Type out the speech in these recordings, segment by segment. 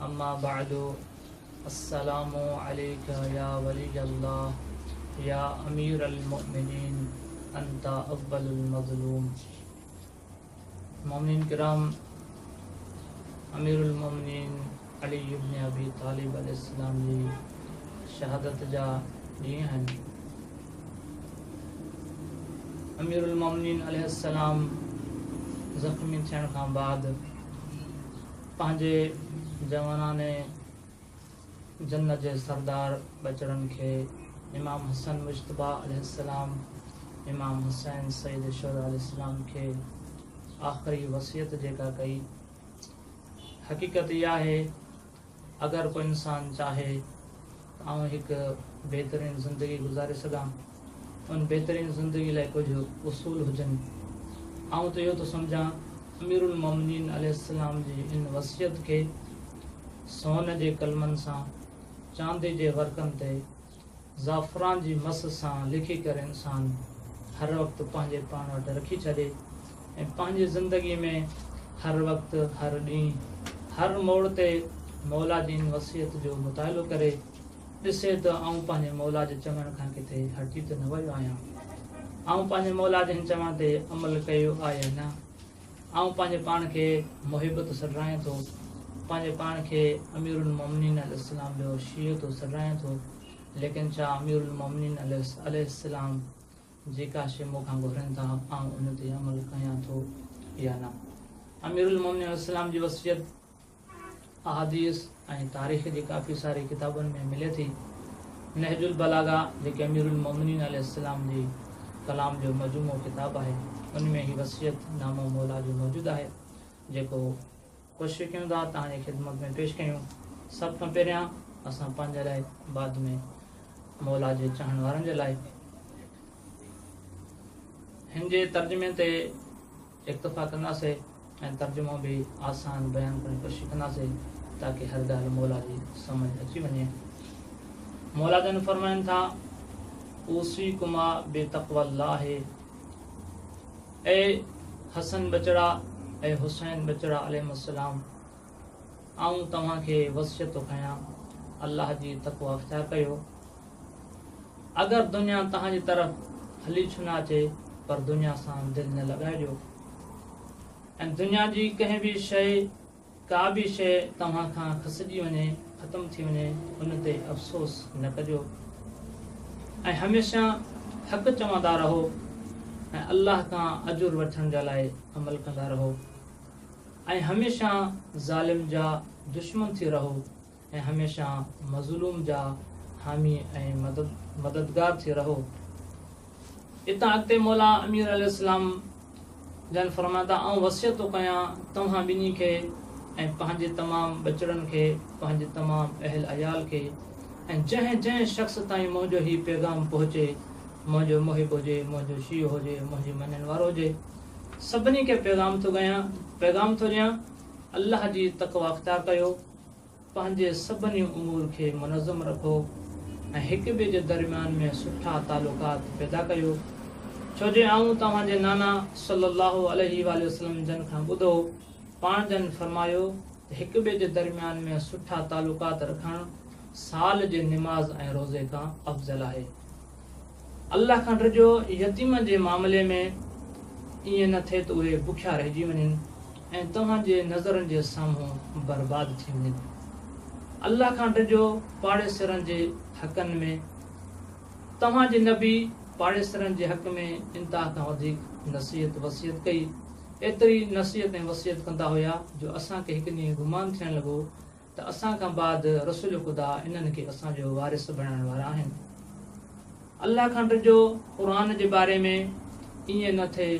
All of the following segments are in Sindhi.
اما بعد السلام عليک يا ولي الله يا امير المؤمنين انت اول المظلوم مؤمنين ڪرام امير المؤمنين علي ابن ابي طالب عليه السلام جي شهادت جا ڏينهن آهن امير المؤمنين عليه السلام زخمي ٿيڻ کان بعد پنهنجي جواناني جنت جي سردار ٻچڙن کي امام حسن مجتبيٰ عليه السلام، امام حسين سيد الشهداء عليه السلام کي آخري وصيت جيڪا ڪئي. حقيقت هي آهي اگر ڪو انسان چاهي ته آئون هڪ بهترين زندگي گذاري سگهان. ان بهترين زندگي لاء ڪجهه اصول هجن. آئون ته اهو ٿو سمجهان امير المومنين عليه السلام جي ان وصيت کي سون جي قلمن سان چاندي جي ورقن تي زعفران جي مس سان لکي ڪري انسان هر وقت پنهنجي پاڻ وٽ رکي ڇڏي ۽ پنهنجي زندگي ۾ هر وقت هر ڏينهن هر موڙ تي مولا جي ان وصيت جو مطالعو ڪري ڏسي ته آئون پنهنجي مولا جي چوڻ کان ڪٿي هٽجي ته نه ويو آهيان؟ آئون پنهنجي مولا جي هن چوڻ تي عمل ڪيو آ يا نه؟ آئون پنهنجي پاڻ کي محب ٿو سڏرايان ٿو، پنهنجي پاڻ کي اميرالمؤمنين عليه السلام جو شيعو ٿو سڏرايان ٿو، ليڪن ڇا اميرالمؤمنين عليه السلام جيڪا شيء مون کان گهرن ٿا آئون ان تي عمل ڪيان ٿو يا نه؟ اميرالمؤمنين عليه السلام جي وصيت احاديث ۽ تاريخ جي ڪافي ساري ڪتابن ۾ ملي ٿي. نهج البلاغه جيڪي اميرالمومنين عليه السلام جي ڪلام جو مجموعو ڪتاب آهي ان ۾ هي وصيت نامو مولا جو موجود آهي جيڪو ڪوشش ڪيون ٿا توهان جي خدمت ۾ پيش ڪيون سڀ کان پهريان اسان پنهنجي لاء بعد ۾ مولا جي چاهڻ وارن جي لاء هن جي ترجمي تي اڪتفا ڪنداسين ۽ ترجمو به آسان بيان ڪرڻ جي ڪوشش ڪنداسين تاڪه هر ڳالهه موليٰ جي سمجهه اچي وڃي. موليٰ جن فرمائن ٿا، اوصيڪما بتقوي الله اي حسن ٻچڙا اي حسين ٻچڙا عليهم السلام آئون توهان کي وصيت ٿو ڪيان الله جي تقويٰ اختيار ڪيو. اگر دنيا توهان جي طرف هلي ڇو نه اچي پر دنيا سان دل نه لڳائجو ۽ دنيا جي ڪنهن به شيء ڪا به شيء توهان کان کسجي وڃي ختم ٿي وڃي ان تي افسوس نه ڪجو ۽ هميشه حق چوندا رهو ۽ الله کان اجر وٺڻ جا لاء عمل ڪندا رهو ۽ هميشه ظالم جا دشمن ٿي رهو ۽ هميشه مظلوم جا حامي ۽ مددگار ٿي رهو. اتان اڳتي مولا امير عليه السلام جن فرمايو ته آئون وصيت ٿو ڪيان توهان ٻنهي کي ۽ پنهنجي تمام ٻچڙن کي، پنهنجي تمام اهل عيال کي ۽ جنهن جنهن شخص تائين منهنجو هي پيغام پهچي، منهنجو محب هجي، منهنجو شيعو هجي، منهنجي مڃڻ وارو هجي، سڀني کي پيغام ٿو ڪيان، پيغام ٿو ڏيان، الله جي تقويٰ اختيار ڪيو. پنهنجي سڀني امور کي منظم رکو ۽ هڪ ٻئي جي درميان ۾ سٺا تعلقات پيدا ڪيو ڇو جو آئون توهان جي نانا صلّي اللّٰه عليه واٰله وسلّم جن کان ٻڌو پاڻ جن فرمايو ته هڪ ٻئي جي درميان ۾ سٺا تعلقات رکڻ سال جي نماز ۽ روزي کان افضل آهي. الله کان ڊڄو جو يتيمن جي معاملي ۾ ائين نه ٿئي ته اهي بکيا رهجي وڃن ۽ توهان جي نظرن جي سامهون برباد ٿي وڃن. الله کان ڊڄو پاڙيسرن جي حقن ۾، توهان جي نبي پاڙيسرن جي حق ۾ انتها کان وڌيڪ نصيحت وصيت ڪئي، ايتري نصيحت ۽ وصيت ڪندا هيا جو اسان کي هڪ ڏينهن گمان ٿيڻ لڳو ته اسان کان بعد رسول خدا انهن کي اسان جو وارث بڻائڻ وارا آهن. الله کان ڊڄو قرآن جي باري ۾ ائين نه ٿئي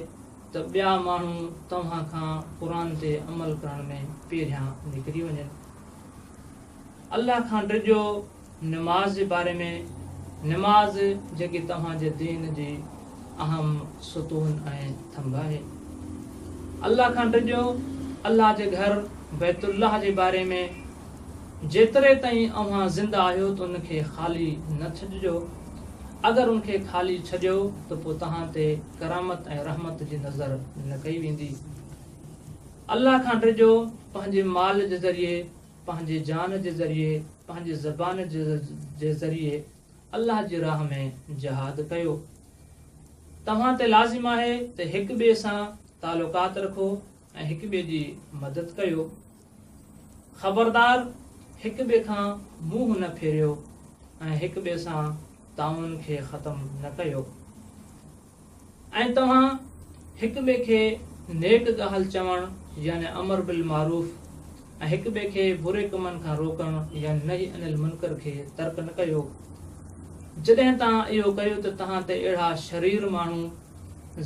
ته ٻيا ماڻهو توهان کان قرآن تي عمل ڪرڻ ۾ پيرهيان نڪري وڃن. الله کان ڊڄو نماز جي باري ۾، نماز جيڪي توهان جي دين جي اهم ستون ۽ ٿنڀ آهي. الله کان ڊڄو، الله جي گهر بيت الله جي باري ۾، جيتري تائين اوهان زنده آهيو ته ان کي خالي نه ڇڏجو، اگر ان کي خالي ڇڏيو ته پوء توهان تي ڪرامت ۽ رحمت جي نظر نه ڪئي ويندي. الله کان ڊڄو، پنهنجي مال جي ذريعي پنهنجي جان جي ذريعي پنهنجي زبان جي ذريعي الله جي راهه ۾ جهاد ڪيو توهان تي لازم آهي ته هڪ ٻئي سان تعلقات رکو ۽ هڪ ٻئي جي مدد ڪيو خبردار هڪ ٻئي کان منهن نه ڦيريو ۽ هڪ ٻئي سان تعاون کي ختم نه ڪيو ۽ توهان هڪ ٻئي کي نيڪ ڳالهه چوڻ يعني امر بالمعروف ۽ هڪ ٻئي کي بري ڪمن کان روڪڻ يعني نهي عن المنڪر کي ترڪ نه ڪيو. جڏهن توهان اهو ڪيو ته توهان تي اهڙا شرير ماڻهو،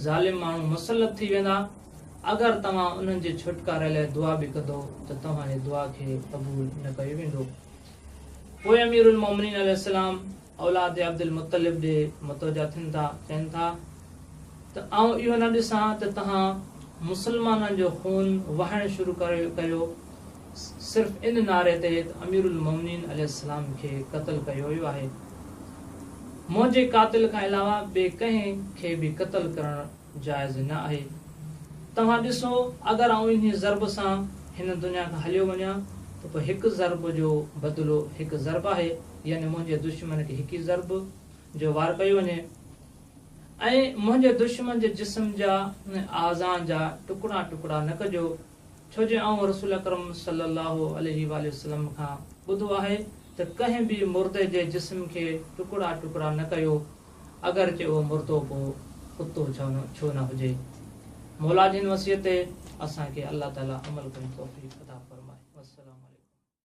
ظالم ماڻهو، مسلط ٿي ويندا. اگر توهان انهن جي ڇوٽڪاري لاء دعا به ڪندو ته توهان جي دعا کي قبول نه ڪيو ويندو. پوء اميرالمومنين عليه السلام، اولاد عبدالمطلب ڏي متوجهه ٿين ٿا، چين ٿا ته آئون اهو نه ڏسان ته تهان مسلمانن جو خون وهائڻ شروع ڪيو، صرف ان نعري تي ته اميرالمومنين عليه السلام کي قتل ڪيو ويو آهي. منهنجي قاتل کان علاوه ٻئي ڪنهن کي به قتل ڪرڻ جائز نه آهي. توهان ڏسو اگر آئون انهيء ضرب سان هن دنيا کان هليو وڃان ته پوء هڪ ضرب جو بدلو هڪ ضرب آهي، يعني منهنجي دشمن کي هڪ ئي ضرب جو وار ڪيو وڃي ۽ منهنجي دشمن جي جسم جا ۽ اعضان جا ٽڪڙا ٽڪڙا نه ڪجو، ڇو جو آئون رسول اڪرم صلّي اللّٰه عليه واٰله وسلّم کان ٻڌو آهي ته ڪنهن به مردي جي جسم کي ٽڪڙا ٽڪڙا نه ڪيو. اگرچه اهو مردو ڪو ڪتو ڇو نه هجي. مولا جن وصيت تي اسان کي الله تعالي عمل ڪرڻ جي توفيق عطا فرمائي. والسلام عليڪم.